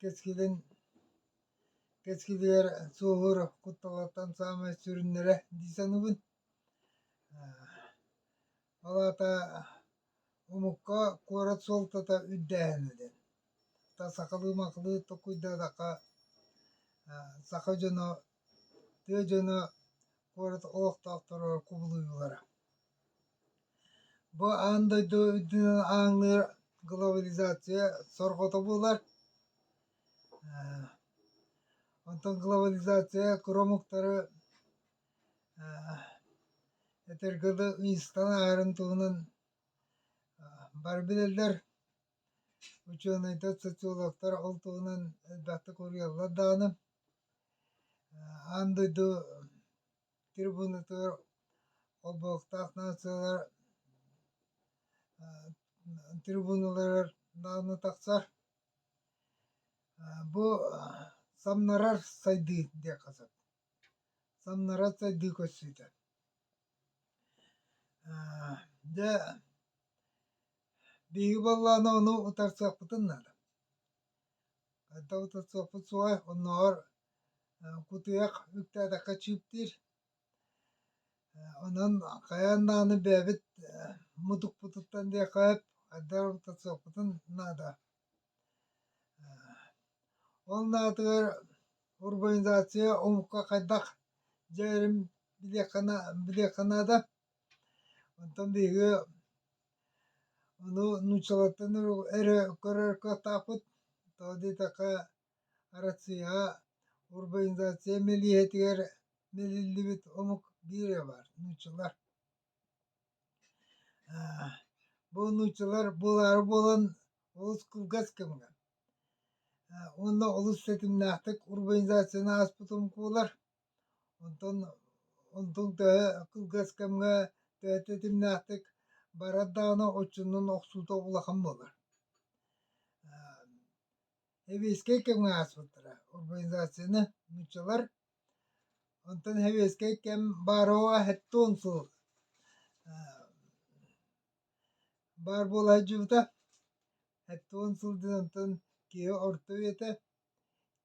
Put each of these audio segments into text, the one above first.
Кэскилин кэскилигэр суоһуур кутталлартан саамай сүрүннэрэ дии саныыбын. Ол аата омукка куорат суолтата үрдээһинэ диэн. Та сахалыы-махалыы толкуйдаатахха саха дьоно, тыа дьоно куорат олохтоохторо кубулуйуулара. Бу аан дойду үрдүнэн ааҥныыр глобализация сорҕото буолар. Онтон глобализация куромуктары этэргэ дылы ыйыстан аһарын туһунан бары билэллэр. Учуонайдар, социологтар ол туһунан элбэхтик уруйаллар даҕаны, аан дойду трибунатыгар олбуохтаах нациялар трибуналарыгар даҕаны тахсар бу самнарар сайдыы диэххэ сөп самнарар сайдыы көрсүүтэ дьэ биһиги баллааны ону утарсыахпытын наада Хайдах утарсыахпыт суоҕай, оннооҕор кутуйах үктээтэххэ чыыптыыр. Онон хайаан даҕаны бэйэбит мутукпутуттан диэххэ сөп, хайдах эрэ утарсыахпытын наада. Ол наадыгар урбанизация омукка хайдах дьайарын билиэххэ, билиэххэ наада. Онтон биһиги ону нууччалартан эрэ көрөр кыахтаахпыт, тоҕо диэтэххэ Россияҕа урбанизация мэлиэһитигэр мэлиллибит омук биирэ баар нууччалар. Бу нууччалар буолаары буолан олус кылгас кэмҥэ уонна олус тэтимнээхтик урбанизацияны ааспыт омук буолар. Онтон ол дул төһө кылгас кэмҥэ төһөтө итимнээхтик барар даҕаны отчуннан охсуута улахан буолар. Сэбиэскэй кэмҥэ ааспыттара урбанизацияны нууччалар онтон сэбиэскэй кэм баарыба хэттуон сыл баар буола сылдьыбыта хэттуон сыл диэн онтон киһи орто үйэтэ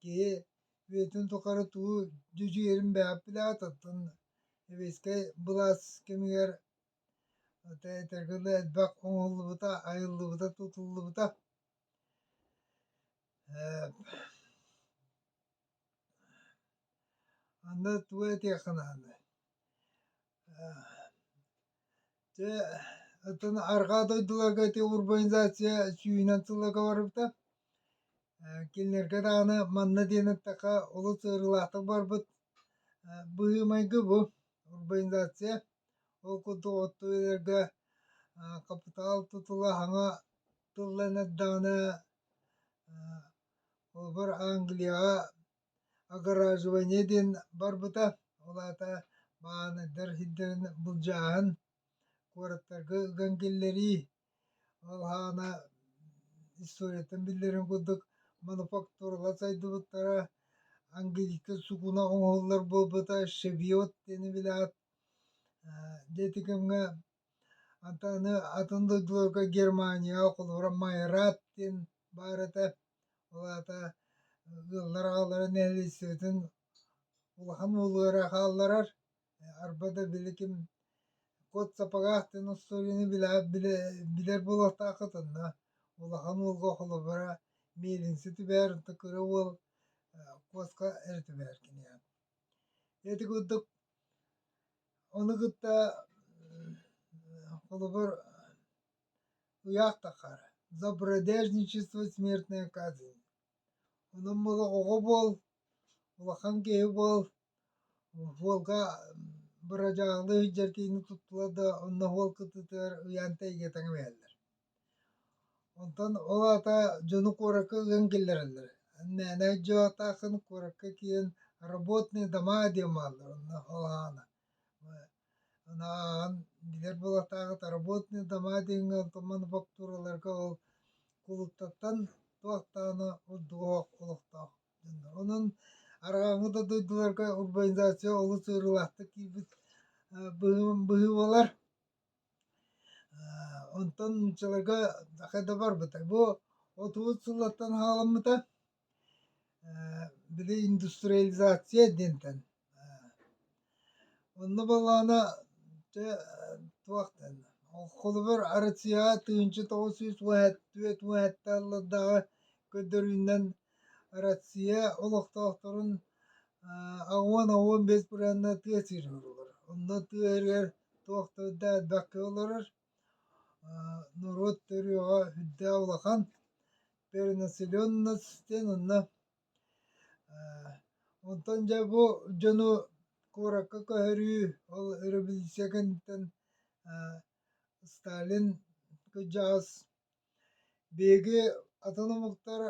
Киһи үйэтин тухары тугу дьүдьүйэрин бэйэҕит билэҕититтэн сэбиэскэй былаас кэмигэр этэргэ дылы элбэх оҥоһуллубута, айыллыбыта, тутуллубута. Аны тугу этиэххин аһынай? Те оттон арҕаа дойдуларга ити урбанизация сүүһүнэн сылларга барбыта. Кинилэргэ даҕаны манна диэн эттэххэ олус ыарыылаахтык барбыт быһыы-майгы бу урбанизация. Ол курдук оттуерга хапытаал тутула саҥа тылланар даҕаны холобур Англияҕа огораживание диэн барбыта, ол аата бааныйдар сирдэрин былдьааһын, куораттарга ыган киллэрии, ол аана историятын биллэрин курдук мануфактуралар сайдыбыттара, английскай сукуна оҥоһуллар буолбута, шевиот диэни билэҕит. Дьиэти кэмҥэ Антаны атын дойдуларга Германияҕа холобура Майрат диэн баар этэ. Ол аата ыаллар аҕалара нэһилиэстибэтин улахан уулара хаалларар. Арба да били ким кот сапогаах диэн остуоруйаны билэр буолуохтааххыт онно улахан уулга холобура мельница түбэһэр онто кыра уол куоска эрэ түбэһэр киниэхэ. Ити курдук Ону кытта холобур ыйаахтаххар забродельничество смертная казнь онон олоҕоҕо буол улахан киһи буол уолга бырадьаалы иһирдьэр киһини туттулар да онно уол кыттыытыгар ыйаан тэйигэ тэҥимэһэллэр Онтон ол аата дьону куоракка ыан киллэрэллэр. Мээнэ дьаатаахын куоракка киирэн «Работные дома» диэн бааллар онно ол аана. Аны ааҕан билэр буолатаҕыт «Работные дома» диэҥҥэ онтуман фактураларга ол кулууптаттан туохтаана ордук олохтоох дьоннор. Онон арааһы да дойдуларга урбанизация олус ыарыылаахтык киирбит быһыы быһыы буолар. Онтон нууччаларга хэ да барбытай бу отуус сыллаттан хааламмыта били индустриализация диэнтэн онно балаана чэ туох диэн холобур арыцыаҕа тыһыынча тоҕус сүүс уоһэттүөт уоһэттэ аллардааҕы көрдөрүүнэн Россия олохтоохторун уон уон биэс бырааһынна тыа сирин олорор. Онно тыа сиригэр туох да өйдөөтбөккө олорор. Норуот төрүөҕэ үрдээх улахан перенаселенность диэн онно онтон дьэ бу дьону куоракка көһөрүү ол өрөбүлүссүйэ кэнниттэн Сталин кырдьаҕас Биһиги атын омуктар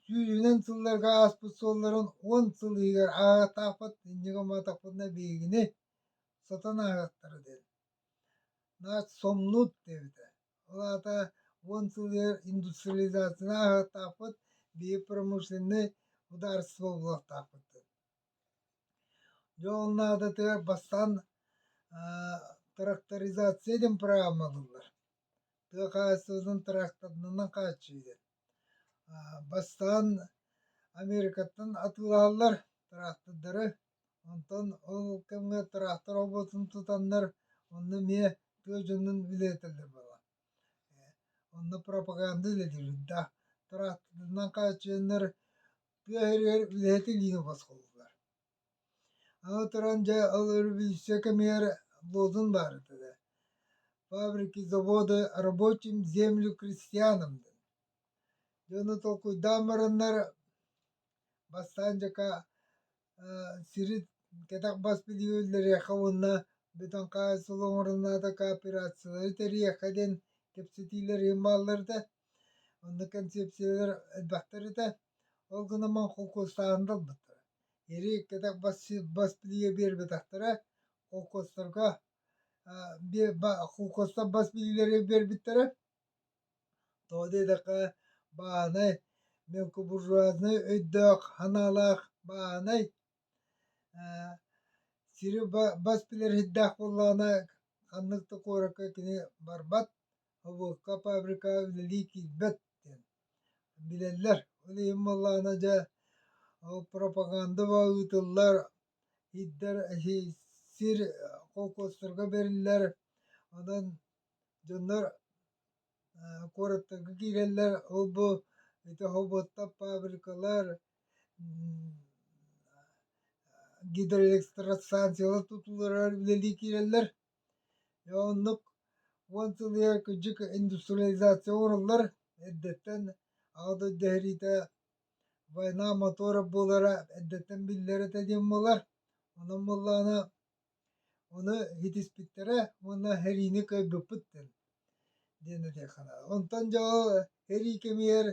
сүүрүүнэн сылларга ааспыт суолларын уон сыл иһигэр ааҕыахтаахпыт, инньигэ-маатахпытына биһигини сотон ааҕыахтара диэн. Наас сомнуут диэбитэ. Ол аата уон сыл иһигэр индустриализацияны ааҕыахтаахпыт, биһиги промышленнай судаарыстыба буолуохтаахпыт диэн. Дьэ ол наадатыгар бастаан тракторизация диэн программа ылыллар. тыа хаһаайыстыбатын тыраахтарынан хааччыйар. Бастаан Америкаттан атыылаһаллар тыраахтардары, онтон ол кэмҥэ тыраахтар обуотун тутаннар, онно эмиэ тыа дьонун билиэтэллэр буолла. Онно пропаганда үлэлиирдэ. Тыраахтарынан хааччыйаннар тыа иһигэр үлэһит илиини босхолууллар. Ала-туран дьэ ол өрөбүллүксэ кэмигэр Лозун баарыта да «Фабрики, заводы рабочим землю крестьянам» диэн дьону толкуйдаан бараннар бастаан дьака сири кэтэх бас билиһиилэриэххэ уонна бүтүн хаайсылы оҥоруннаата кооперациялары тэрийиэххэ диэн кэпсэтиилэр иһин баалларыта онно кэнсиэпсийэлэр элбэхтэр этэ ол гынан баран холкуостааһын да ылбыттара ириик-кэтэх бас бас билиигэ биэрбэтэхтэрэ холкуостарга холкуостар бас билиилэри биэрбиттэрэ тоҕо диэтэххэ бааһынай мелкобуржуазнай өйдөөх санаалаах бааһынай сири бас билэр иһирдээх буоллаҕына ханнык да куоракка кини барбат Обуокка фабрикаҕа үлэлии киирбэт диэн билэллэр. Ол иһин буоллаҕына дьэ пропагандова ыытыллар, сир сир холкуостарга бэриллэр. Онон дьоннор куораттарга киирэллэр. Ол бу ити хоботтор, фабрикалар, гидроэлектростанциялар тутууларыгар үлэлии киирэллэр. Дьэ оннук уон сыл иһигэр кырдьык индустриализация оҥоруллар эрдэттэн аҕа дойду иһэриитэ война мотора буолара эрдэттэн биллэр этэ диэн буолар. Онон буоллаҕына ону итиспиттэрэ уонна эһэриини кыайбыппыт диэн этиэх санаабын. Онтон дьэ ол эрии кэмигэр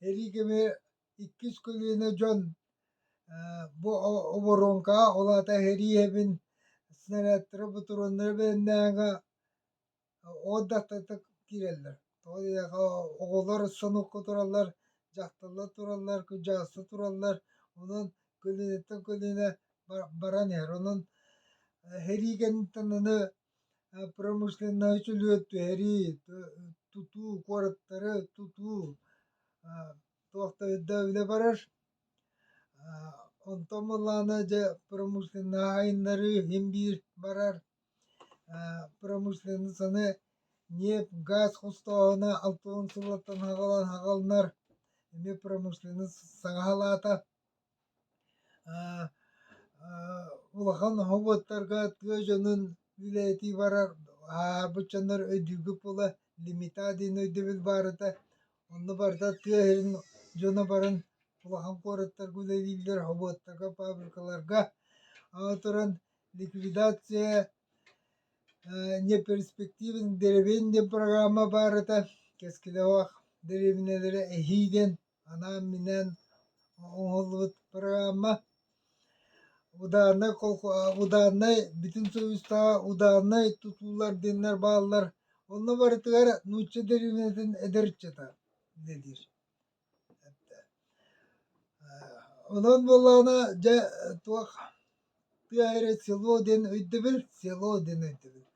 эрии кэмигэр иккис көлүөнэ дьон бу оборуоҥкаҕа ол аата иһэрии иһэбин снарядтары бутуруоннары бэлэмнээҕэ от даттатык киирэллэр тоҕо диэтэххэ оҕолор сонукка тураллар дьахталлар тураллар кырдьаҕастар тураллар онон көлүөнэттэн көлүөнэ баран иһэр онон иһэрии кэнниттэн аны промышленнай үчүлүөт түһэрии тутуу куораттары тутуу туох да өйдөөбүлэ барар онтон буоллаҕына дьэ промышленноһы айыннарыы иһин биир барар промышленницаны ньиэп газ хостооһуна алты уон сыллаттан хаҕыланар эмиэ промышленность саҥа салаата улахан оһуобуттарга тыа дьонун үлэлэтии барар ааһарбыт дьоннор өйдүүргүт буола лимита диэн өйдөбүл баарыта онно барыта тыа иһин дьоно баран улахан куораттарга үлэлииллэр оһуобуттарга фабрикаларга аны туран ликвидация неперспективен деревенье программа баарыта кэскилэ суох дэриэбинэлэри эһии диэн анаан-минээн оҥоһуллубут программа удааннай удааннай бүтүн суобастааҕа удааннай тутуулар диэннэр бааллар онно барытыгар нуучча дириҥэтин эдэр ыччата диир онон буоллаҕына дьэ туох тыа эрэ село диэн өйдөбүл село диэн өйдөбүл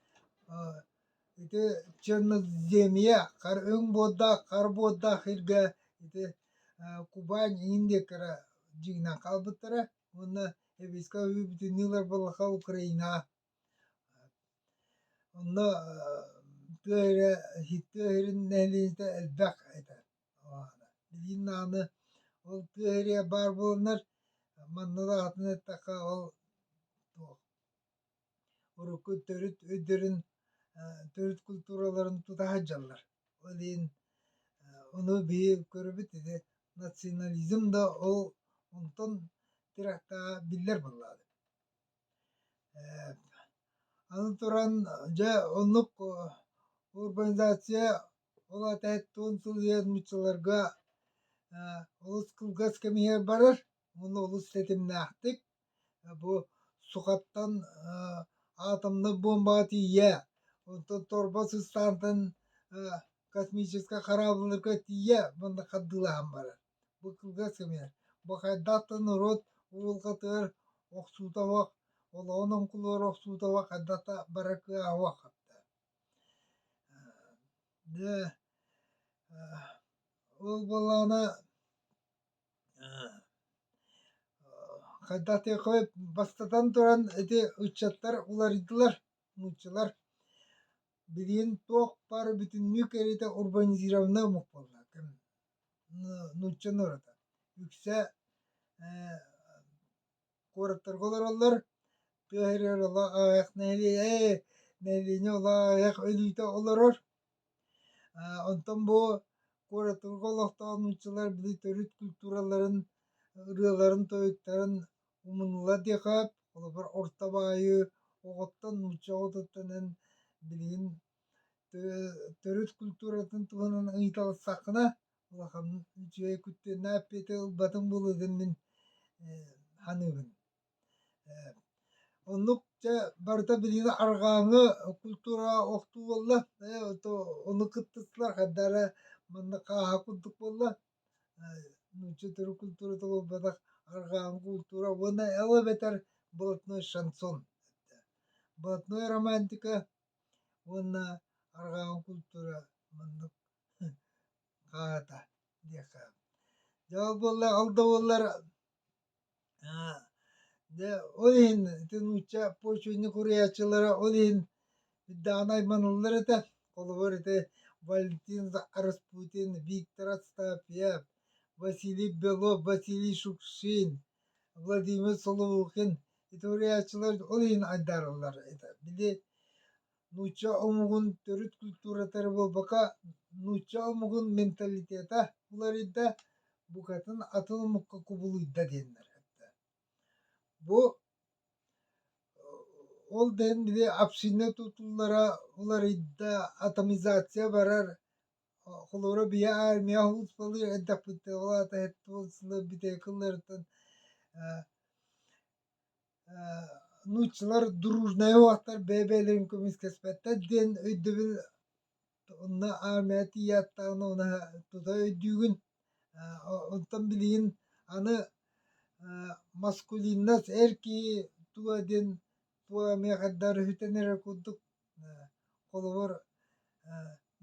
Ити черноземье хар өҥ буордаах хар буордаах сиргэ ити Кубань индиэккэ дьиҥинэн хаалбыттара уонна Сэбиэскэй Өрүү бүтүннүү ылар балаха Украина онно тыа эрэ тыа иһирин нэһилиэнньэтэ элбэх этэ билигин даҕаны ол тыа иһирэ баар буоланнар манна даҕатан эттэххэ ол туох урукку төрүт өйдөрүн, төрүт культураларын тута сылдьаллар. Ол иһин ону биһи көрөбүт ити национализм да ол онтон тирэхтэҕэ биллэр буоллаҕа аны туран дьэ оннук урбанизация ол аата һэттуон сыл үөммүт сылларга олус кылгас кэм иһигэр барар Ону олус ситимнээхтик бу сухаттан атомнай буомбаҕа тиийэ, онтон торба сыстаантан космическай корабльларга тиийэ маннык хардыылаһан барар. Бу кылгас кэмигэр. Бу хайдах да норуот уолгатыгар охсуута уох, олоҕун оҥкулугар охсуута уох, хайдах да барар кыаҕа уоххаптар. Ол буоллаҕына Хайдах диэки бастатан туран ити ыччаттар уларыйдылар, нууччалар билигин туох баар бүтүннүү кэриэтэ урбанизированный омук буолла нуучча норуота үксэ куораттарга олороллор тыа аҕайах нэһилиэнньэ олоҕо аҕайах өлүүтэ олорор Онтон бу куоратыгы олохтоон нууччалар били төрүт культураларын ырыаларын-тойуктарын умунула диэхээп, холобур орто баайы оҕоттон, нуучча оҕотуттан эн билигин төрүт культуратын туһунан ыйыталассаххына улахан үчүгэй куттанна эппиэти ылбатыҥ буолуо диэн мин саныыбын Оннук дьэ барыта билигин арҕааҥы культура охтуу буолла. Ону кыттыстылар хайда эрэ манна хааһа курдук буолла. Нуучча төрүт культурата буолбатах арҕааҥы культура уонна эл эбэтэр блатной шансон. Блатной романтика уонна арҕааҥы культура маннык хааһата диэххэ. Дьэ ол буолла ол да буоллар Дьэ ол иһин ити нуучча почвенник уруйааччылара ол иһин даҕаны айманаллар этэ холобур ити валентин распутин виктор отстапьев василий белов василий шукшин владимир соловукин ити уруйааччылар ол иһин айдаараллар этэ били нуучча омугун төрүт культуратары буолбака нуучча омугун менталитета уларыйда букатын атын омукка кубулуйда диэннэр этэ бу ол дэһин били община тутуллара уларыйда атомизация барар холура бия армия успалыыр эрдэхпиттэ ол атаһыттыбылсылы битэ кылларытын нууччалар дружная уоттар бэйэ-бэйэлэрин көмүскэспэттэр диэн өйдөбүл уонна армия тиийээттээҕинэ уна тута өйдүүгүн онтон билигин аны маскулиннас эр киһи туо диэн туо миэхэдэ өрүһүтэн эрэр курдук Холобур,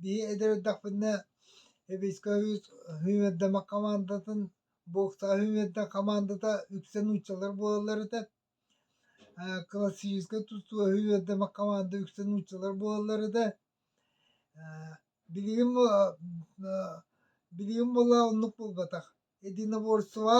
биһи эдэрдахпытына войсковик хүүмэрдэмэх хамаандатын боксаҕа хүүмэрдэн хамаандата үксэ нууччалар буолаллар этэ. классическай тустууга хүүмэрдэмэх хамаанда үксэ нууччалар буолаллар этэ. билигин билигин буолла оннук буолбатах. единоборствоҕа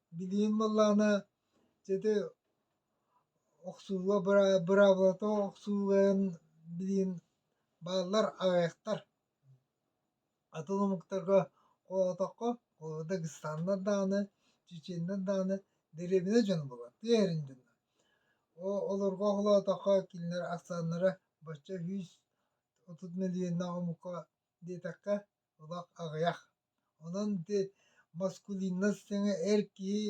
Билигин буоллаҕына ити охсууга быраабылата охсууларын билигин бааллар аҕыйахтар. Атын омуктарга холоотоххо холобурда Гыстаннар даҕаны, Чеченнар даҕаны дэриэбинэ дьон буолар, тиэхэрин дьон. Олорго холоотоххо кинилэр ахсааннара бачча үс отут мөлүйүөннээх омукка диэтэххэ олох аҕыйах. Онон ити маскулинность саҥа эр киһи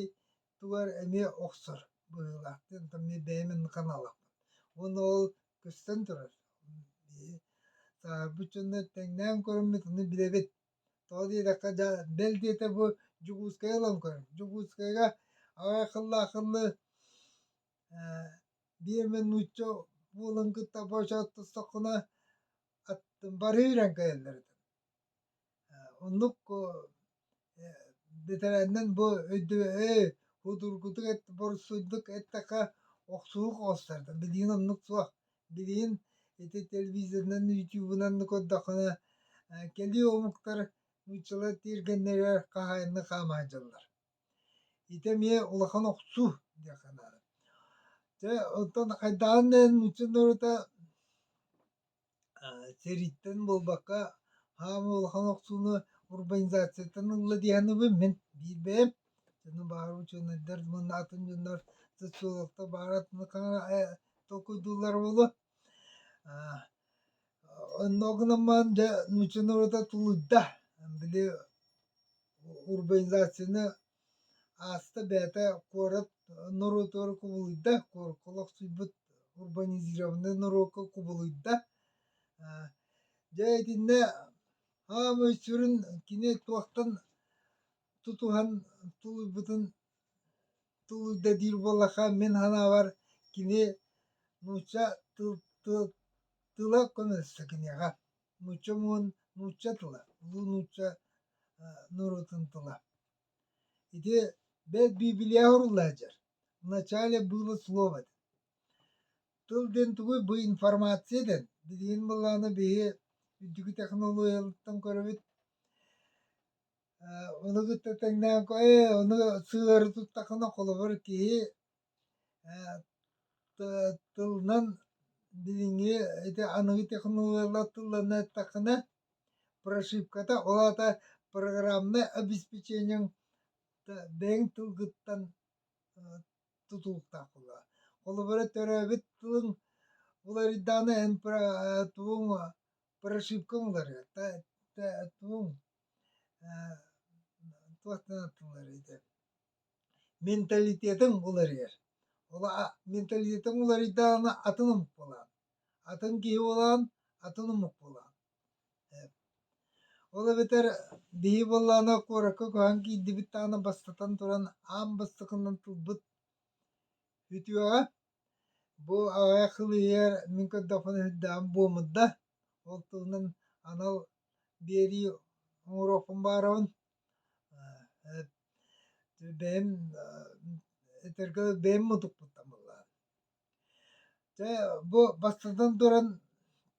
тугар эмиэ охсор быһыылаахтыын. Таммы бэйэмин ханалахпын. Уонна ол көстөн турар. Биһи сааһырбыт дьонно тэҥнээн көрөммүт, аны билэбит. Тоҕо диэтэххэ, дьэ, бэл диэтэ бу Дьокуускайга ылан көрөм. Дьокуускайга аҕай акыллаахылы э, биэрмэ нуучча буолан кытта боочооттостоххуна аттым барыы ирэн кэлэллэр этэ. Оннук бэтэрээннэн бу өйдөбөй судургутук борсуйдук эттэххэ охсуһук оҕустарда билигин оннук суох билигин ити телевизорынан ютубунан көрдөххүнэ кэлии омуктар нууччалар тиэргэннэригэр хаһаайынны хаамаһайдьаллар ити эмиэ улахан охсуу диэх санаабын дьэ оттон хайдаҕын да иһин нуучча норуота Сэрииттэн буолбакка хаамыы улахан охсууну урбанизацияттан ылла дии саныыбын мин биир бэйэм дьону баҕар учуонайдар манна атын дьоннор социологтар баара атын толкуйдууллара буолуо онно гынан дьэ нуучча норуота тулуйда били урбанизацияны Ааста бэйэтэ куорат норуотугар кубулуйда, куоракка олохсуйбут урбанизированнай норуокка кубулуйда. Дьэ итиннэ хаамыы сүрүн кини туохтан тутуһан тулуйбутун тулуйда диир буоллахха мин санаабар кини нуучча тыла көмөлөстө киниэхэ. Нуучча омугун нуучча тыла, улуу нуучча норуотун тыла. Ити бэт библиях уруллаа дьар. Вначале было слово. Тыл диэн тугуй бу информация дэн. Билигин былааны биһи үрдүкү технологиялыктан көрөбүт. Ону кытта тэҥнээн ко, э, ону сыары туттакына холобур киһи Тылынан билиҥҥи ити аныгы технологиялар тылланна эттэххинэ прошивката ол аата программнай обеспечениеҥ бэйэҥ тылгыттан тутулуктаах буолуо. Холобура төрөөбүт тылыҥ уларыйдаҕына эн тугуҥ прошивкаҥ уларыйар тугуҥ туох гына тылларый дии Менталитетыҥ уларыйар. Ол а менталитетыҥ уларыйдаҕына атын омук буолаҕын. Атын киһи буолаҕын, атын омук буолаҕын. Ол эбэтэр биһи буоллаҕына куоракка көһөн киирдибит даҕаны бастатан туран аан бастакынан тылбыт үтүөҕэ. Бу аҕай хылыйар мин көрдөхпүнэ сүрдээх буомут да. Ол туһунан анал биэрии оҥоруохпун баҕарабын. бэйэм этэргэ бэйэм мутукпутта мыллаан дьэ бу бастатан туран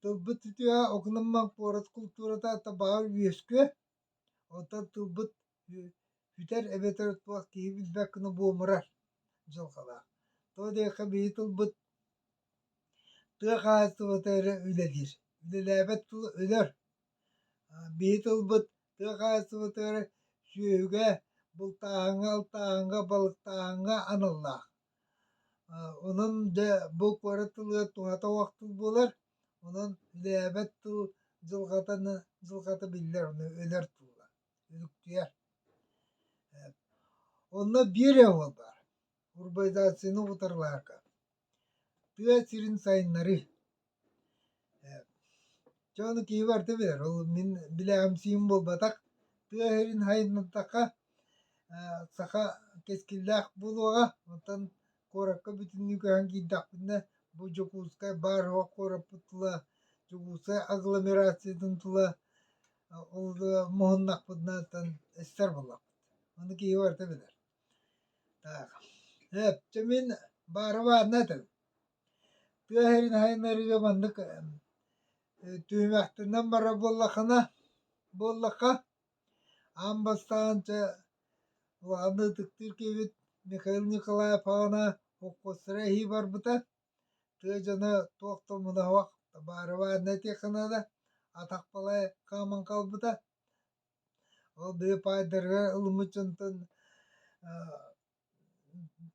тылбыт үтүө окунаммак куорат култуурата ата баҕар үөскүө оттон тылбыт бүтэр эбэтэр туох киһи билбэккэ буомурар дьылҕалаах тоҕо диэххэ биһи тылбыт Тыа хаһаайыстыбата эрэ үлэлиир, үлэлээбэт тыл өлөр. Биһи тылбыт тыа хаһаайыстыбата эрэ сүөһүгэ, бултааһыҥҥа, алтааһыҥҥа, балыктааһыҥҥа аналлаах. Онон дьэ бу куорат тылыгар туһата уох тыл буолар, онон үлэлээбэт тыл дьылҕатаны дьылҕата биллэр, ону өлөр тыллар, үлүктүйэр. Онно биир өҥө баар, урбанизацияны утарылаарга. тыа сирин сайыннарыы. Чэ ону киһи барыта билэр, ол мин билээхимсиим буолбатах. Тыа сирин сайыннатахха саха кэскиллээх буолуоҕа, оттон куоракка бүтүннүү көһөн киирдэхпинэ бу Дьокуускай баар-соҕох куораппыт тула, Дьокуускай агломерациятын тула ол муһуннахпытынаттан эстэр буоллахпыт. Ону киһи барыта билэр. Так, эптэ мин баарыбаанна этим. Тыа иһэрин айаннарыыга маннык түһүмэхтэнэн барар буоллахына, буоллахха аан бастаанча улахан ытыктыыр киһибит Михаил Николаев аҕана холкуостара иһии барбыта. Тыа дьоно туох да умунуһуох баарыбаанна этиэххэ наада, атах балай хааман хаалбыта. Ол дьэ паайдарга ылыммыт дьонтон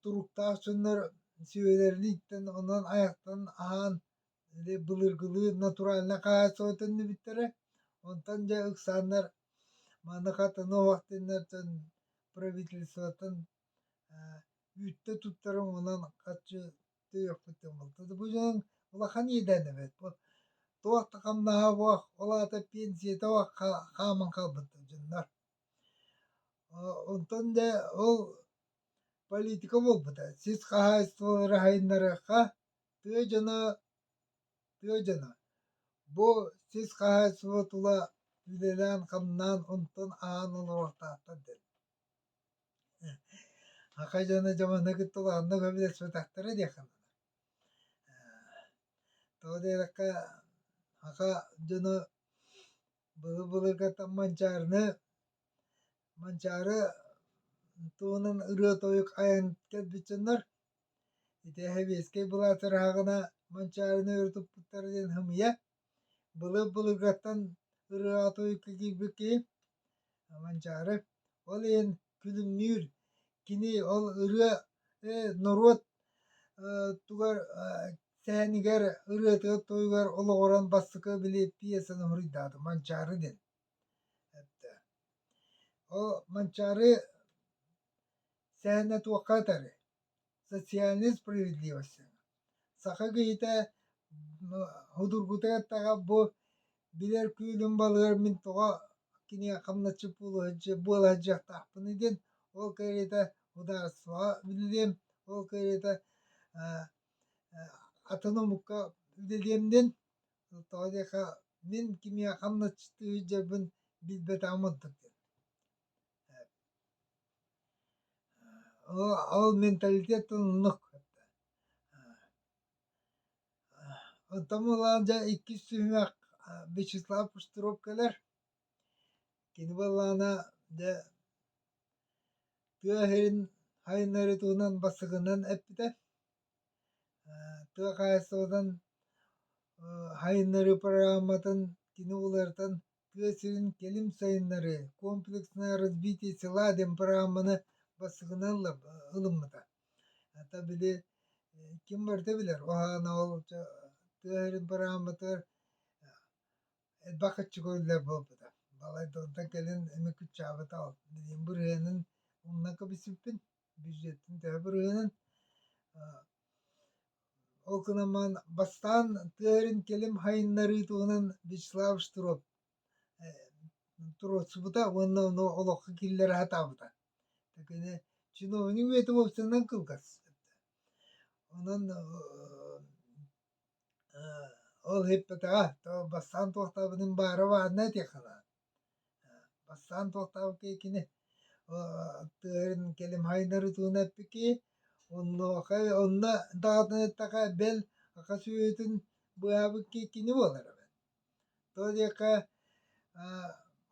туруктаах дьоннор сүбэлэрин иттэн, онон айахтан аһаан былыргылыы натуральнай хаһаайыстыбатын төннүбүттэрэ. Онтон дьэ ыксааннар манна хатана уһуктуннар дьон правительствотын үүттэ туттарын онон хаччы Түөхпүттэн алта да бужаҥ улахан идээн эбэт бу туох да хамнаһа буох, ол аата пенсията буох хааман хаалбыттар дьоннор. Онтон да ол политика буолбута. Сис хаһаайыстыбалары хайыннарыахха тыа дьоно тыа дьоно бу сис хаһаайыстыба тула үлэлээн-хамнаан онтон аһаан олоруохтаахтар диэн. Аха дьоно дьомону кытта улаанна көмөлөспөтөхтөрө диэххэ дылы. Тоҕо диэтэххэ аха дьоно былыр былыргаттан Манчаарыны Манчаары туһунан ырыа-тойук айан кэлбит дьоннор ити сэбиэскэй былаат ыраһаҕына Манчаарыны өрө туппуттара диэн хымыйа Былыр-былыргаттан ырыатык кигирбит киһи Манчаары ол иһин күлүмнүүр. Кини ол ырыа норуот тугар сэһэнигэр ырыатыгар-туйугар олоҕуран бастакы били пьесаны хоруйдаата Манчаары диэн. Ол Манчаары сэһэнэ туохха атарый? социальной справедливости. Саха киһитэ худургутатаҕа бу билэр күүлүн балыгар мин тоҕо кинигэ хамначчы буола сылдьыахтаахпыный диэн ол кэриэтэ судаарыстыбаҕа үлэлиэм, ол кэриэтэ атын омукка үлэлиэм диэн тоҕо диэххэ мин кимиэхэ хамначчыты сылдьарбын билбэтэх мурдук диэн Ол менталитет оннук. Оттон буолан дьэ иккис түһүмэх Вячеслав Пустуровкалар. Кини буоллаана дьэ тыа иһин хайыннарытынан басыгынан эппитэ. Тыа хаһаайыстыбатын хайыннарыы программатын кини уларытан тыа сирин кэлим сайыннары комплекснай «Развитие села» демпраманы бастакына ылыммыта. Хата били ким барыта билэр, ол аана ол тыа сирин пырааматыгар элбэх аччыгы үлэлэр буолбута. Балайда онтон кэлин эми кыччаабыта ол. Билигин бырыһыанын умна кэбиспиппин, бюджеттин төһө бырыһыанын Ол гынан бастаан тыа сирин кэлим сайыннарыы туһунан Вячеслав Штыров туруорсубута уонна ону олоххо киллэрэ сатаабыта. Такини чиновник үйэтэ уопсанынан кылгас. Онон ол эппэтэҕэ то бастаан туохтаабытын баара баарына этиэх санаа Бастаан туохтаах киһи тыаһын кэлим хайынарытыына эппикий онуоха онно даҕатыныттаха бэл аха сүөһүтүн быыһаабыккыы кини буолар эбит тоҕо диэххэ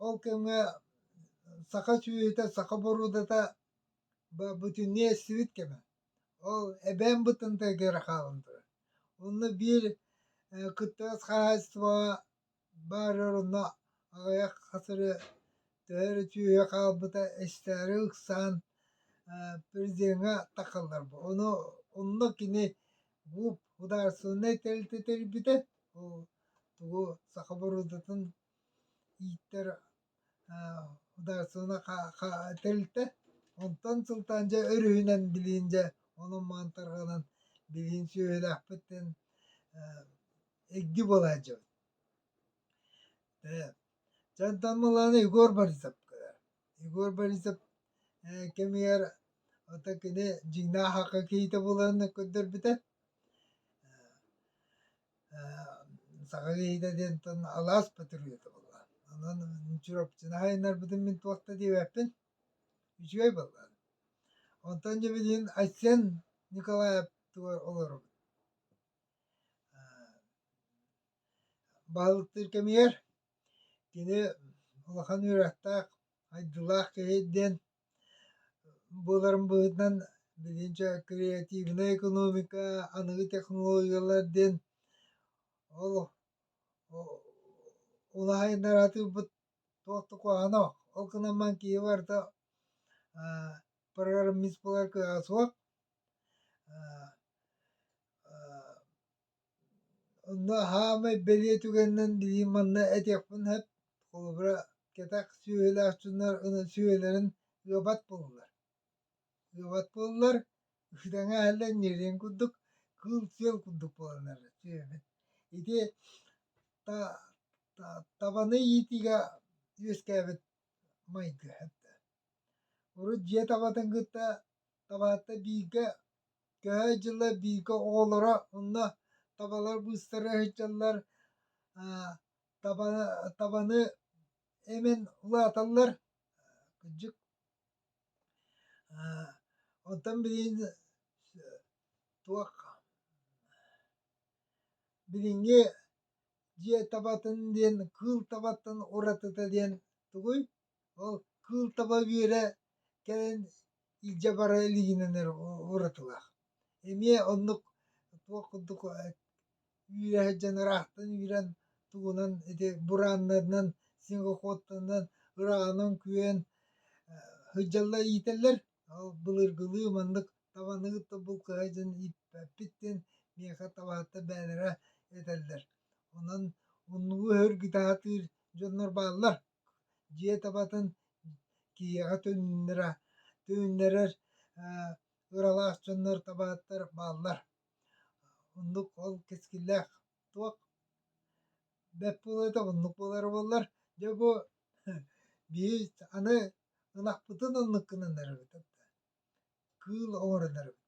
ол кэмҥэ саха сүөһүтэ саха боруудата бүтүннүү эстибит кэмэ ол эбээн бытынтыгар хаалан турар онно биир кыттыгас хаһаайыстыбаҕа Баар оронно аҕыйах хатыры төһө эрэ түөһэ хаалбыта эстээри ыксаан президеҥҥа тахалларбыт. Ону онно кини ГУП судаарыстыбаннай тэрилтэ тэрийбитэ. Ол тугу саха боруодатын ииттэр тэрилтэ онтон сылтаан дьэ өрүһүнэн билиин дьэ онон маан тарҕанан билиин сүөһүлээхпит диэн игди буола сылдьабыт дьэ онтон мылааны егор борисов егор борисов кэмигэр ата кини дьиҥнээх хакка киһитэ буоларын көрдөрбүтэ саха киһитэ диэнтэн алаас патриота буолла. Онон Чурапчыны хайыннарбытын мин туох да диэбэппин. Үчүгэй буолла. Онтон дьэ билигин Айсен Николаевтугар олоробут. Баһылыктыыр кэмигэр кини улахан үөрэхтээх, айдыылаах киһи диэн Буоларым быһыытынан билигин чэ креативная экономика аныгы технологиялар диэн ол улаайыннар атыырбыт туох да куһаҕана ол гынан баран киһи барыта программистбылар кыаҕа суох Онно саамай бэлиэ түгэнинэн билиим манна этиэхпин сөп холобура кэтэх сүөһүлээх дьоннор аны сүөһүлэрин ыабат буоллулар ыабат буоллулар итиэҥэ иһэллэр ньириэн курдук кыыл сүөл курдук буоланнар сүөһүбүт ити табаны иитиигэ үөскээбит майгы урут дьиэ табатын кытта табаатта бииргэ Кыһа дьыла бииргэ оҕолоро онно табалар быыстара сылдьаллар таба табаны эмэн улааталлар кырдьык оттон билигин туох билиҥҥи дьиэ табатын диэн кыыл табаттан уратыта диэн тугуй Ол кыыл таба үөрэ кэлэн илдьэ бара илигинэн эрэ уратылаах. Эмиэ оннук туох курдук үүрэ сылдьан ыраахтан үүрэн тугунан ити бурааннарынан снегоходтарынан ыраанан күөн сылдьаллар иитэллэр. Ол былыргылыы маннык табаны кытта булкуһа дьон ииппэппит диэн миэхэ табаһыттар бээнэрэ этэллэр. Онон умнугу өһөргү таһытыыр дьоннор бааллар. дьиэ табатын киһиэхэ түннэра түннэрэр ыралаах дьоннор табааттар бааллар оннук ол кэскиллээх туох бэт буолуота оннук буолара буоллар дьэ бу биһи аны ынахпытын оннуккунан арабытыт кыыл оҥорон арабыт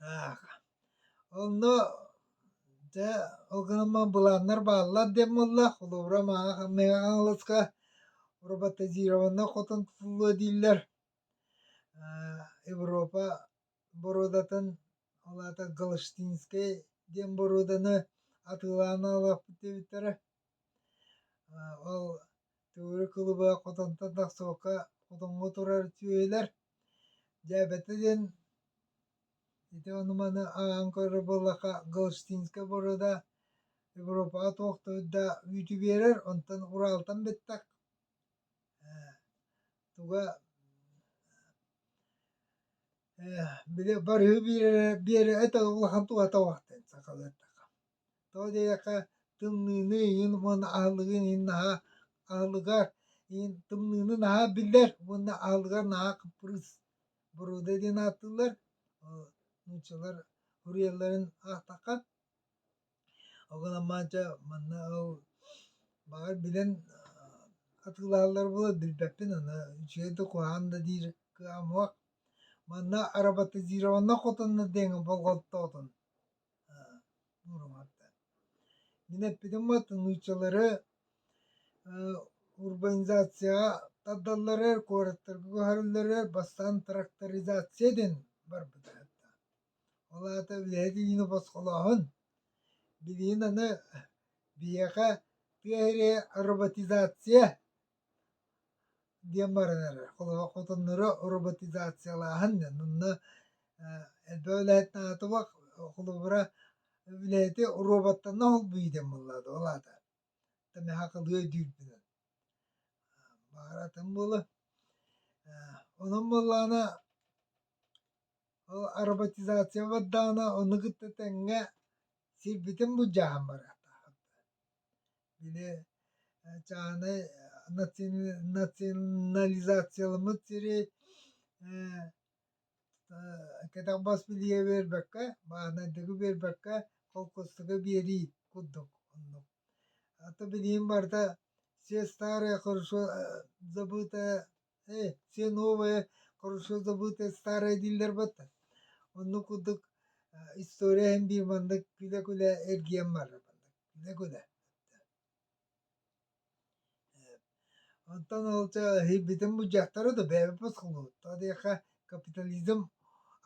Так, онно дьэ ылгыныммын былааннар бааллар диэн буолла. Холобура мааҕа хамныаҕа хаҥаласка роботизированнай хотон тутуллуо дииллэр. Европа боруодатын, ол аата Галштинскай диэн боруоданы атыылаан аҕалыахпыт диэбиттэрэ. Ол Төгүрүк кылыба хотонтон тахсыбакка хотоҥҥо турар сүөһүлэр дьээбэтэ диэн ити ону-маны ааҕан көрөр буоллахха Галштинская борода Европаҕа туох да үүтү биэрэр, онтон Уралтан бүттэх туга били барыһы биэрэрэ биэрэрэ улахан туһата суох диэн сахалыы эттэххэ Тоҕо диэтэххэ, тымныыны иһин уонна аһылыгын иһин наһаа аһылыгар иһин тымныыны наһаа биллэр уонна аһылыгар наһаа кыппырыыс боруода диэн ааттыыллар. нууччалар уруйалларын аахтахха ол гынан маанча манна ол баҕар билэн атыылаһаллар буолуо билбэппин аны үчүгэй да куһаҕан да диир кыаамуах манна аработизированно хотонно диэҥҥэ болҕомтоотун Уруһаата. Мин эппитим уоту нууччалары урбанизацияҕа тардаллары куораттарга көһөрөллөрө бастаан тракторизация диэн барбыта аата. Ол аата үлэһит илиини босхолооһун. Билигин аны биһиэхэ тыа эрэ роботизация диэн баранар. Холобур, хотоннору роботизациялааһын, онно элбэх үлэһит наадатыбак, холобура, үлэһити роботтанна холбуй диэн буоллаҕа да, ол аата. Тамеха кылыа дүүрбүнэн. Баара атын буолла. Онон буоллаҕына, ол роботизация бардаҕына, ону кытта тэҥҥэ сирбитин былдьаһан барыахтаахпыт. Били чааһынай национализацияламмыт сири кэтэх бас билиигэ биэрбэккэ, бааһынайдыгы биэрбэккэ холкуостуга биэрии курдук оннук. А то билигин барыта все старое хорошо забытое Э, все новое, хорошо забытое старое дииллэр бата. Онну курдук история иһин биир маннык күлэ-күлэ эргиэн барар маннык күлэ-күлэ. Онтон олча битин буджактары да бэбэппэс кылгылыт. Та диэхэ капитализм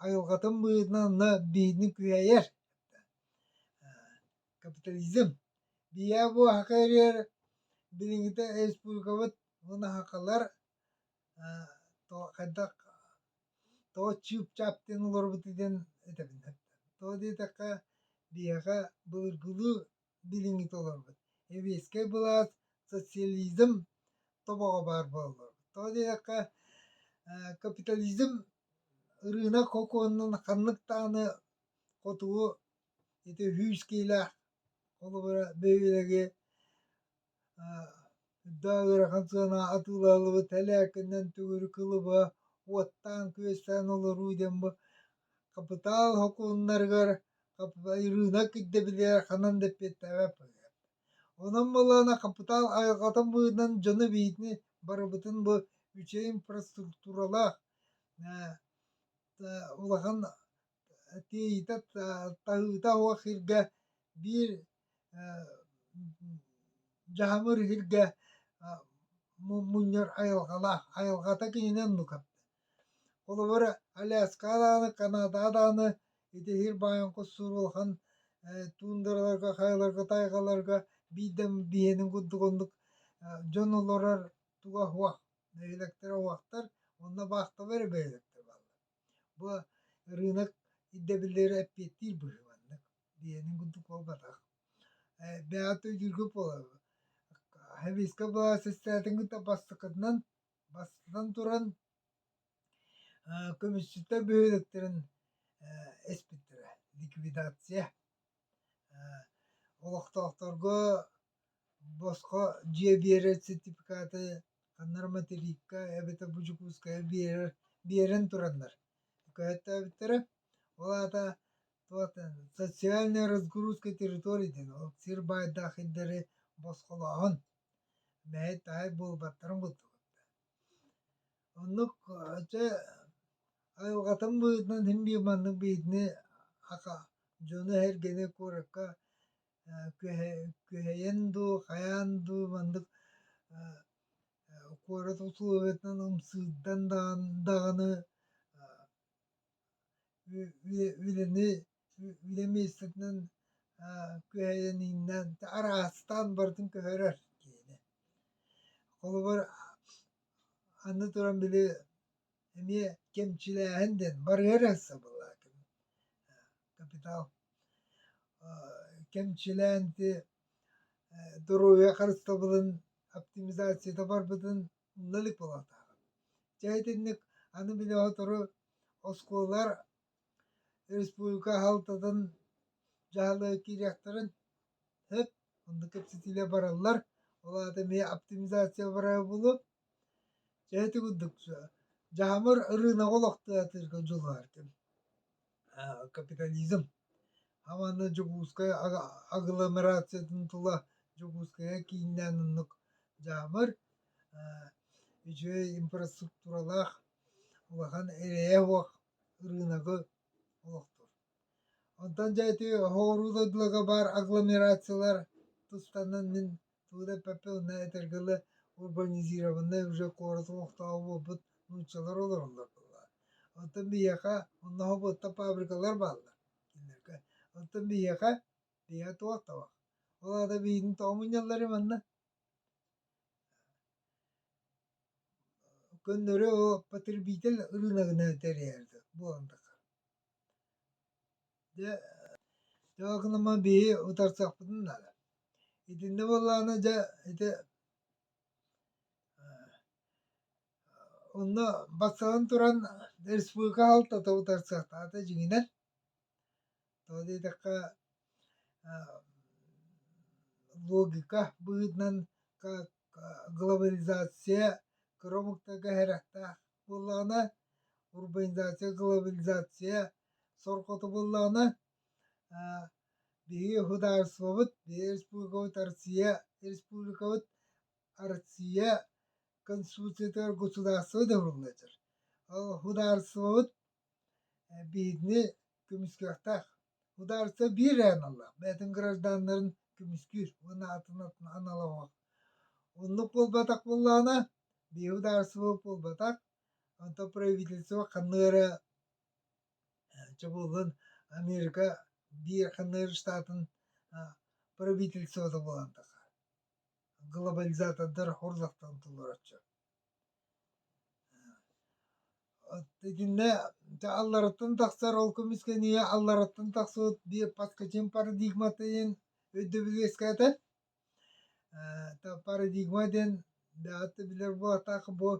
айылгатын быытынан анна биһини кыайар. Капитализм бийэ буохака эрэр билиҥҥитэ республикабыт вунаһакалар хайдах того чыыпчаап диэн олорбут диэн этэбин того диэтэххэ биһиэхэ былыргылыы билиҥҥитэ олорбут эбиэскэй былаас социализм тобоҕо баар буолаллар того диэтэххэ капитализм ырыынак сокуонунан ханнык даҕаны хотугу Ити сүүс киилээх, холобура, бэбиэлэги үрдээх ыарахан сыана атыылаһылыбыт, тэлээккэнэн төгүрү кылыба, уоттаан-күөстээн олоруу диэн бу хапытаал сокуоннарыгар рынок ирдэбилигэр ханан да эппиэттээбэт быһыыга. Онон буоллаҕына хапытаал айылҕатын быһыытынан дьону биитини барыбытын бу үчүгэй инфраструктуралаах улахан тиийитэ таһыыта суох иһиргэ биир дьаһамыр иһиргэ мунньар айылҕалаах айылҕата киһинэн нука холобур аляска даҕаны канада даҕаны ити иһир баайаҥкы сур улахан туундараларга хайаларга тайҕаларга биирдэ биһиэнин курдук оннук дьон олорор туга суох нэһилиэктэрэ суохтар онно баахталар бэйэлэктэр бааллар бу рынок ирдэбиллэрэ эппиэттиир быһыыланнык диэниҥ курдук буолбатах бэйэҕит өйдүүргө буолабын хависка былаасыстаатын кытта бастакытынан бастатан туран көмүсчүттэр бөһүөлэктэрин эспиттэрэ ликвидация олохтоохторго Босхо дьиэ биэрэр сертификаты ханнар материкка эбэтэр бу Дьокуускайга биэрэр биэрэн тураннар көһөттөөбүттэрэ. Ол аата туота социальная разгрузка территорий диэн ол сир баайдаах сирдэри босхолооһун мэһэй таһай буолбаттарын курдук. Оннук дьэ айылҕатын быһыытынан син биир маннык быһыытını аха дьону-сэргэни куоракка Күһэйэн дуу, хайаан дуу маннык куорат условиетынан ымсыырдан даҕаны үлэни үлэ миэстэтинэн күһэйэнииннэн араастаан барытын көһөрөр киһини. Холобур аны туран били эмиэ кэмчилээһин диэн барыа эрэ сабыллаат капитал кэмчилээн ити доруобуйа харыстабылын оптимизацията барбытын умна илик буолуохтаах. Дьэ итинник аны били сотору оскуолалар республика аһалтатын дьаһала киириэхтэрин өп онно кэпсэтиилэр бараллар ол аата эмиэ оптимизация барара буолуо Чэ ити курдук дьаамыр ырыынагы олохтоотуурга дьулуһаартым капитализм уонна Дьокуускай агломерациятын тула Дьокуускайга кииннээн оннук дьаамыр үчүгэй инфраструктуралаах улахан эрэйэ суох ырыынагы олохтуур. Онтон дьэ ити оҕуруу дойдуларга баар агломерациялар тус танан мин Туора Пепе уонна этэргэлэ урбанизированнай уже куорат олохтооҕо буолбут нууччалар олороллор буолла. Оттон биһиэхэ онно хоботто фабрикалар бааллар кинилэргэ. Оттон биһиэхэ биһиэхэ туох табах. Ол аата биһигин тоомунньаллары манна көннөрү потребитель ырыынагынан тэрийэрдэр буолан тахар Дьэ, тоҕо гынама биһи утарсахпытын наада. Итиннэ буоллаҕына дьэ ити онно бастатан туран республика аһалтата утарсыахтаахта дьиҥинэн. Тоҕо диэтэххэ логика быһыытынан глобализация кыра омуктарга иһэриэхтээх. буоллаҕына урбанизация глобализация сорҕото буоллаҕына биһиги уһударствобыт биһи республикабыт Россия республикабыт Россия конституциятыгар государство да ылыллар ол уһударствобыт Биһигини көмүскүөхтээх. Судаарыстыба биир ээн ылла, бэйэтин гражданнарын көмүскүүр уонна атын атын аналлаах. Оннук буолбатах буоллаҕына, биһиги судаарыстыба буолбатах, онтон правительство ханна эрэ чобууллан Америка биир ханна эрэ штатын правительствота буолан таха глобализатордар хорзахтан толороччу Итиннэ алларыттан тахсар ол көмүскэниэ алларыттан тахсыбыт паскачин парадигматын өйдөбүлү үөскээтэн парадигма диэн даатта билэр буолатаах бу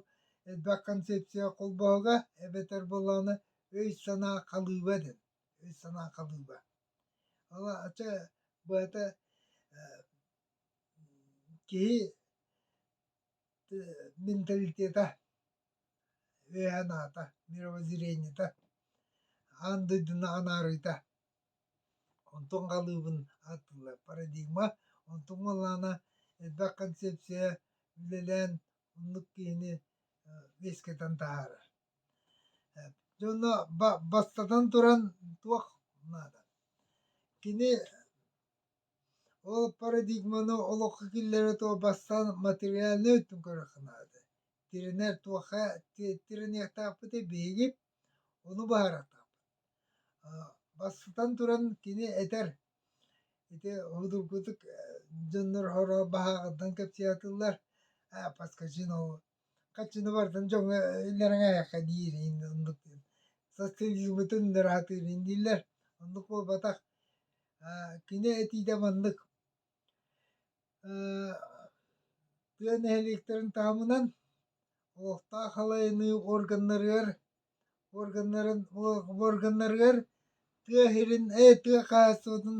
элбэх концепция холбоһуга эбэтэр буоллаҕына өй-санаа халыыба диэн өй-санаа халыыба ача быһата киһи менталитета үөһэ анаата мировоззрениета аан дойдуну анаарыыта онтон халыыбын ааттыыллар парадигма онтон уоллаана элбэх концепция үлэлээн оннук киһини үөскэтэн таһаарар дьоно бастатан туран туох наада кини Ол парадигманы олоххо киллэрэ туох бастаан материальнай өттүн көрөххө наада. Тирэнэр туохха тирэниэхтаахпытый биһиги ону баһарахтаахпыт. Бастатан туран кини этэр ити судургутук дьоннор баһааҕыттан кэпсээтилэр подскажи но Хаччыны бардым дьоҥҥо иллэрэҥээхэххэ диир иһин оннук соскучуммутун ыраатыыбын дииллэр оннук буолбатах кини этиитэ маннык тыа нэһилиэктэрин таһымынан олохтоох халайыныы органнарыгар Уорганнарын уорганнарыгар тыа сирин э тыа хаһаайыстыбатын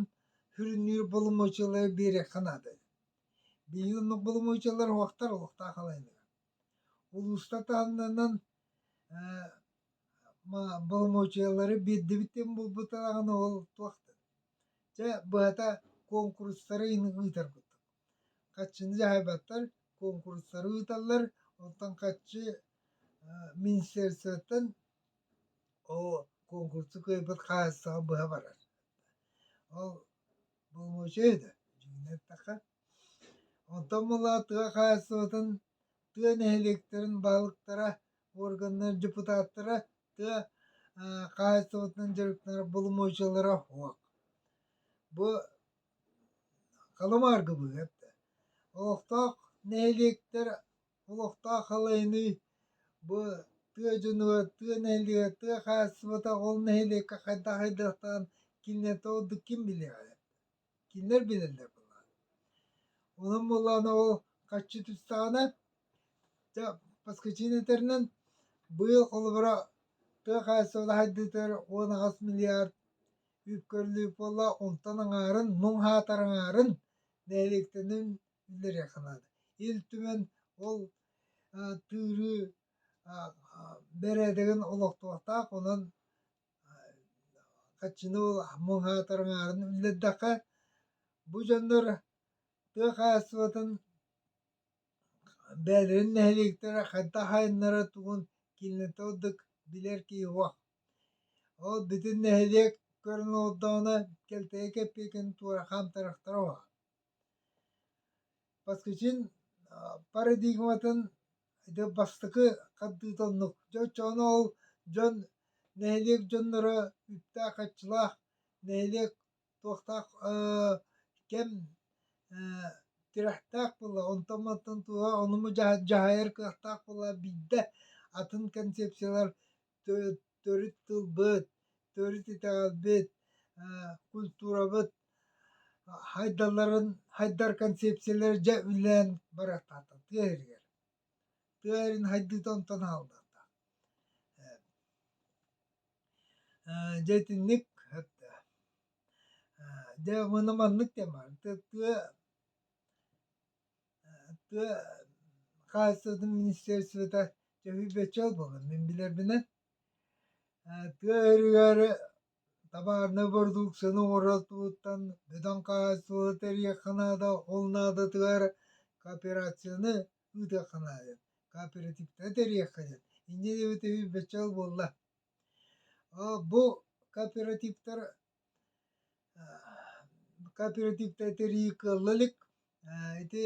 сүрүннүүр боломуочуйалары биэриэххэ наада. Биһиги оннук боломуочуйалар уһуктар олохтоох халаанныгар. Улуустар таһымнарынан боломуочуйалары биэрдибит диэн буолбутаҕына ол туохтан? Дьэ быһата куонкурустары ыытар курдук. Хаччыны дьаһайбаттар, куонкурустары ыыталлар, оттон хаччы Министерствоттан оо конкурсу кыайбыт хаһаайыстаба быһа барар. Ол боломуочуй да дьиҥинэн эттэххэ. Онтон мылаа тыа хаһаайыстыбатын тыа нэһилиэктэрин баһылыктара органнар депутаттара тыа хаһаайыстыбатынан дьарыктанар боломуочуйалара уһук. Бу халымаарга быыһыат да. Олохтоох нэһилиэктэр Олохтоох халайыныы бу тыа дьонугар, тыа нэһилиэгэр, тыа хаһаайыстыбата ол нэһилиэккэ хайдах хайдахтаан кинилэртэн ордук ким билиэҕэй? Кинилэр билэллэр буоллаҕа. Онон буоллаҕына ол харчы түстэҕинэ дьэ Москвичино этэринэн быйыл холобура тыа хаһаайыстыбата сайдыытыгар уон аҕыс миллиард үп көрүллүбүт буолла, онтон аҥаарын, муҥ хаатар аҥаарын нэһилиэктэринэн биллэриэххэ наада. Ил Түмэн ол тыырыы бэрээдэгин олохтуохтаах, онон хаччыны ол муҥаатар аҥаарын үллэрдэххэ, бу дьоннор тыа хаһаайыстыбатын бэйэлэрин нэһилиэктэрэ хайдах айаннара тугун кинилэртэн ордук билэр киһи суох. Ол бүтүн нэһилиэк көрөн олордоҕуна кэлтэйэ кэппиэкин туора хаамтарахтара уһа. Баскачин парадигматын ити бастакы хардыыта оннук. Дьэ оччоҕуна ол дьон нэһилиэк дьонноро үптээх-харчылаах, нэһилиэк туохтаах кэм тирэхтээх буолла, онтон-мантан туоһа ону дьаһайар кыахтаах буолла, биирдэ атын концепциялар төрүт тылбыт, төрүт итэҕэлбит, культурабыт хайдаларын, хайдар концепциялары дьэ үлэлээн барахтаата тыа иһигэр. Тыа иһин хайдыыта онтон аһыллыата. Дьэ итинник дьэ маны маннык диэн баар тыа тыа хаһаайыстыбатын министерствота чөһүйбэччэл буолан мин билэрбинэн тыа өрүһүгэр табаарынай бородууксуйаны оҥоротууттан бөдөҥ хаһаайыстыбаны тэрийиэххэ наада ол наадатыгар кооперацияны ыытыахха наада кооперативтары тэрийиэххэ диэн инньэ диэбитэ өйбөччөл буолла бу кооперативтар Кооперативтар тэрии кыалла илик. Ити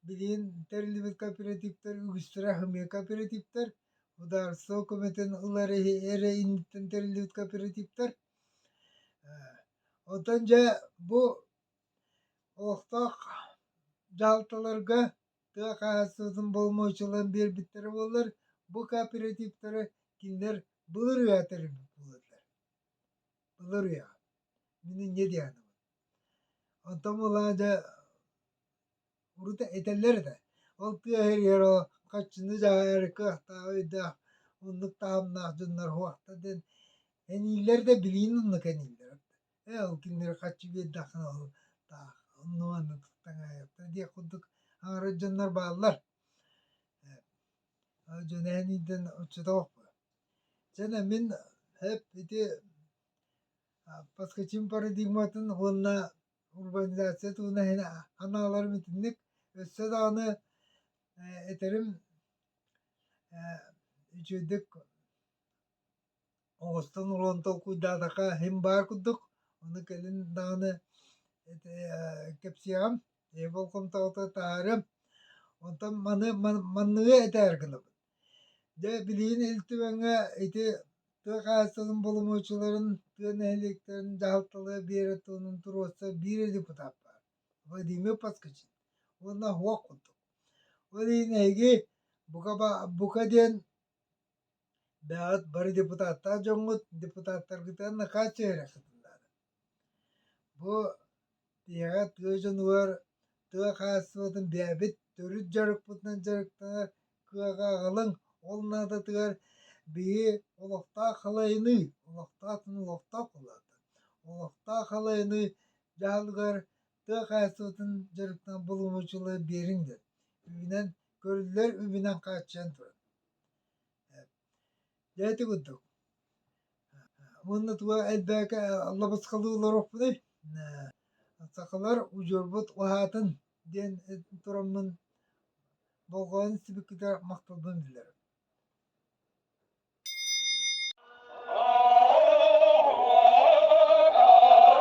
билигин тэриллибит кооперативтар үгүстэрэ аһымыйа кооперативтар. Судаарыстыба көмөтүн ылары эрэ инниттэн тэриллибит кооперативтар. Оттон дьэ бу олохтоох дьаһалталарга тыа хаһаайыстыбатын боломуочуларын биэрбиттэрэ буоллар, бу кооперативтары кинилэр былырыыҥҥа тэриллибит буолаллар. Ыларыа, мин инньэ диэхинэбин Онтон ылаан дьэ урут этэллэр этэ ол тыа иһигэр о хаччыны дьаһайары кыахтаах өйдөөх оннук таһымнаах дьоннор уохта диэн энииллэр да билиин оннук энииллэр ээ ол кинилэри хаччы биэрдэххинэ ол таах онно-манна таҥаайыахтара диэх курдук аҥарыт дьоннор бааллар э ол дьон эн иитэн оччотооҕу Дьэ мин эп ити подскочим парадигматын уонна урбанизация тууна иһин ханааларым итинник өссө даҕаны этэрим үчүгэйдик оҥостон олорон толкуйдаатахха иһим баар курдук ону кэлин даҕаны кэпсиэҕим эйэ болҕомтоҕо таһаарыам онтон маны манныгы этээр гынабын Дьэ билигин Ил Түгэҥҥэ ити тыа хаһаайыстыбатын боломуочуларын, тыа нэһилиэктэрин дьаһалталара биэрэр тылынан туруорса биир депутат баар Владимир Поскачин уонна ХОК курдук. Ол иһин эһиги бука бука диэн бэйэҕит бары депутаттаах дьоҥҥут депутаттаргытыгар накааччы иһэриэххитин наада. Бу ийэҕэ тыа дьонугар тыа хаһаайыстыбатын бэйэбит төрүт дьарыкпытынан дьарыктанар кыаҕа аҕалыҥ, ол наадатыгар биһи олохтоох халайыныы, олохтоох дьон олохтоох буолаата. Олохтоох халайыныы дьаһалыгар тыа хаһаайыстыбатын дьарыктанар боломуочулары биэриҥдэр. Үбүнэн көрүллэр үбүнэн хааччыйан турар. Дьэ ити курдук. Уонна туга элбээки аллабасыкалыы олоруохпунуй? Сахалар удьуорбут уһаатын диэн тураммын болҕойон сибикитэ махталбын биллэрим.